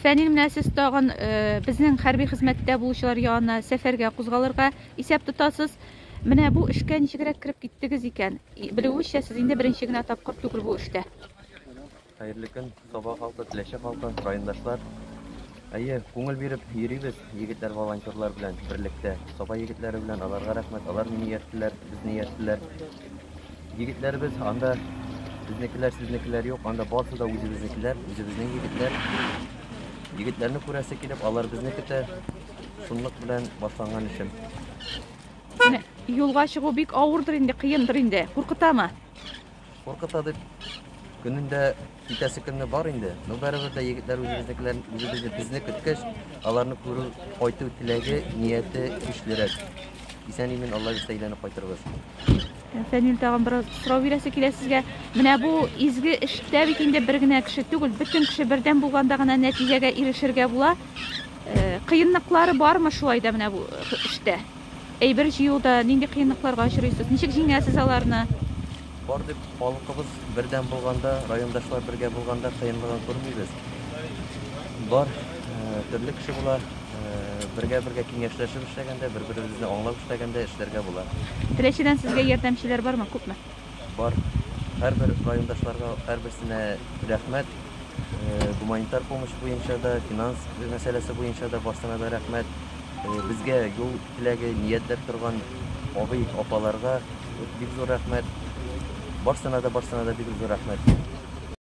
Фәнил, менә сез тагын безнең хәрби хезмәттә булучылар янына сәфәргә кузгалырга исәп тотасыз. Менә бу эшкә ничегрәк кереп киттегез икән? Белүебезчә, сез инде беренче генә тапкыр түгел бу эштә. Хәерле көн, Саба халкы, Теләче халкы, райондашлар. Әйе, күңел биреп йөрибез егетләр волонтерлар белән берлектә. Саба егетләре белән аларга рәхмәт, алар мине ияттеләр, безне ияттеләр. Егетләребез анда безнекеләр, сезнекеләр юк, анда барсы да үзебезнекеләр, үзебезнең егетләр. Егетләрне күрәсе килеп, алар безне көтә. Шунлык белән башланган эшем. Менә юлга чыгу бик авырдыр инде, кыендыр инде. Куркытамы? Куркыта дип көнендә Китәсе көнне бар инде, но барыбер дә егетләр үзебезнекеләр, үзебезне безне көткәч, аларны күрү, кайту теләге, нияте көчлерәк. Исән-имин Алла бирсә әйләнеп кайтырбыз. Фәнил тагын бераз сорау бирәсе килә сезгә. Менә бу изге эштә бит инде бер генә кеше түгел, бөтен кеше бердәм булганда гына нәтиҗәгә ирешергә була. Э, кыенлыклары бармы шулай да менә бу эштә? Әйбер җыюда нинди кыенлыкларга очрыйсыз? Ничек җиңәсез аларны? Бар дип, халкыбыз бердәм булганда, райондашлар бергә булганда кыенлыгын күрмибез. Бар, төрле кеше була, бергә-бергә киңәшләшеп эшләгәндә, бер-беребезне аңлап эшләгәндә эшләргә була. Теләчедән сезгә ярдәмчеләр бармы, күпме? Бар. Һәрбер райондашларга һәрберсенә рәхмәт. Гуманитар помощь буенча да, финанс мәсьәләсе буенча да барсына да рәхмәт. Безгә юл теләге ниятләп торган абый, апаларга бик зур рәхмәт. Барсына да, барсына да бик зур рәхмәт.